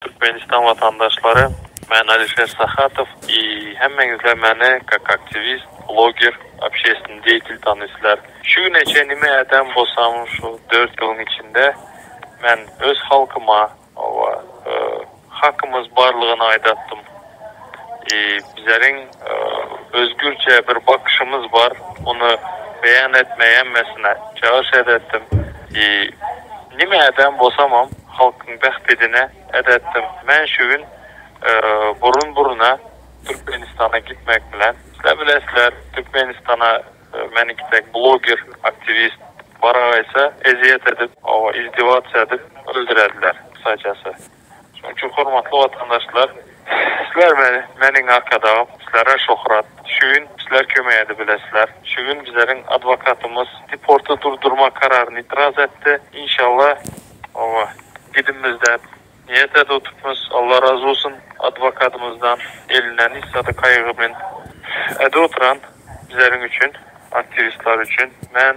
Türkmenistan watandaşlary men Alişer Sahatow i hemmeňizler meni kak aktiwist, bloger, obşeestnny deýtil tanyslar. Şu güne çen nime ädem bolsam şu dört ýylyň içinde men öz halkyma oba hakymyz barlygyny aýdatdym. Bizleriň özgürçe bir bakyşymyz bar, ony beýan etmeýämmesine çagyryş edätdim. Nime ädän bosamam halkyň bähbidine edätdim. Men şu gün burun-buruna Türkmenistana gitmek bilen, sizler bilesizler, Türkmenistana meniňki dek bloger, aktiwist baragaýsa ezýet edip, izdewatsa edip öldürerdiler, kysajasy. Şonuň üçin hormatly watandaşlar sizler meni meniň arkadagym sizlere şohrat şu gün sizler kömek edi bilesizler şu gün bizleriň adwokatymyz deporty durdurma kararyny itiraz etdi inşalla oba gidinmiz dep niýet edip otypmyz Allah razy bolsun adwokatymyzdan elinden hiç zady kaýgy men edip otyran bizleriň üçin aktiwistler üçin men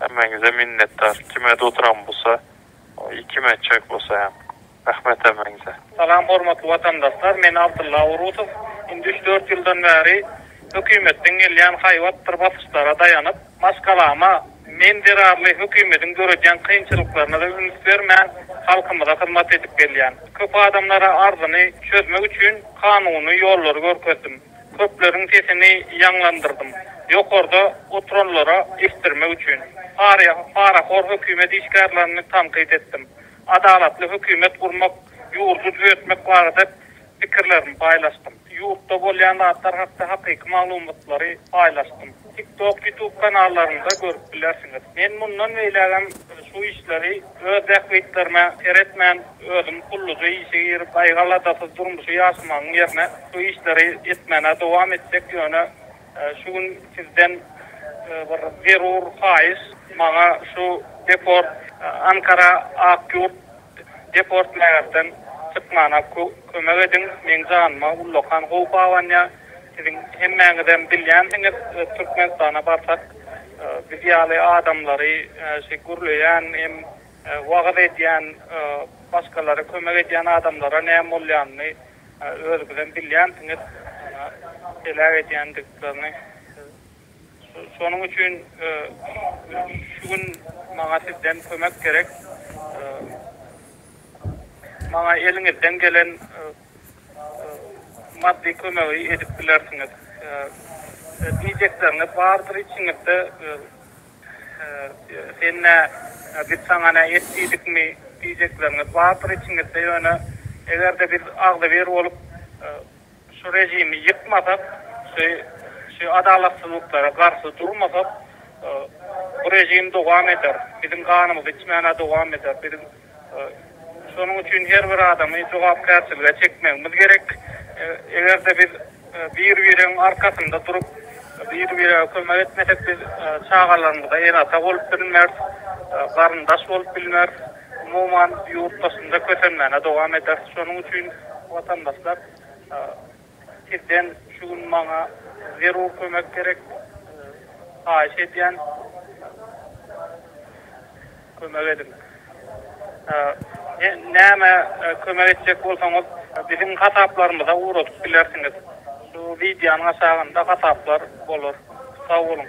Hemmäňize minnetdar. Kime doturam busa i kim etjek busa hem. Rahmet hemmäňize. Salam hormatly watandaşlar men Abdylla Orusow indi üç dört ýyldan bäri hökümetden gelýän haýbatdyr basyşlara daýanyp maşgalama men zerarly hökümediň döredýän kynçylyklaryna da üns bermän halkymyza hyzmat edip gelýän köp adamlara arzyny çözmek üçin kanuny ýollary görkezdim. Köpleriň sesini ýaňlandyrdym. Ýokarda oturanlara eşitdirmek üçin. Parahor hökümet işgärlerini tankyt etdim. Adalatly hökümet gurmak, ýurdy düzetmek barada pikirlerimi paýlaşdym. Ýurtda bolýan zatlar hakda hakyky maglumatlary paýlaşdym. TikTok, YouTube kanallarynda görüp bilersiňiz. Men mundan beýlägem şu işleri. Öz bähbitlerime seretmän, özüm gulluja işe girip, aýgyl-adasy durmuşy ýaşamagyň ýerine şu işleri etmäne dowam etjek, ýöne şu gün sizden bir zerur haýyş, maňa şu deport, Ankara, Akýurt deport mägerden çykmana kömek ediň, meň janyma ullakan howp abanýar. Siziň hemmäňizem bilýänsiňiz, Türkmenistana barsak, biz ýaly adamlary şu gürleýän hem wagyz edýän, başgalara kömek edýän adamlara näme bolýanyny özüňizem bilýänsiňiz, heläk edýändiklerini. Şonuň üçin şu gün maňa sizden kömek gerek. Maňa eliňizden gelen maddy kömegi edip bilersiňiz. Diýjekleriňiz bardyr içiňizde, Sen nä, biz saňa nä etdidikmi? diýjekleriňiz bardyr içiňizde, ýöne eger-de biz agzybir bolup şu režimi ýykmasak, şu adalatsyzlyklara garşy durmasak, bu režim dowam eder, biziň ganymyzy içmän-ä dowam eder. Şonuň üçin her bir adamy jogapkärçilige çekmegimiz gerek. Eger-de biz bir-biregiň arkasynda durup, bir-birege kömek etmesek, biz çagalarymyza ene-ata bolup bilmeris, garyndaş bolup bilmeris, umuman, ýurtdaşynda kösenmäne dowam ederis. Şonuň üçin, watandaşlar, Sizden şu gün maňa zerur kömek gerek. Haýyş edýän kömek ediň. Näme kömek etjek bolsaňyz biziň hasaplarymyza ugradyp bilersiňiz. Şu wideonyň aşagynda hasaplar bolar. Sag boluň.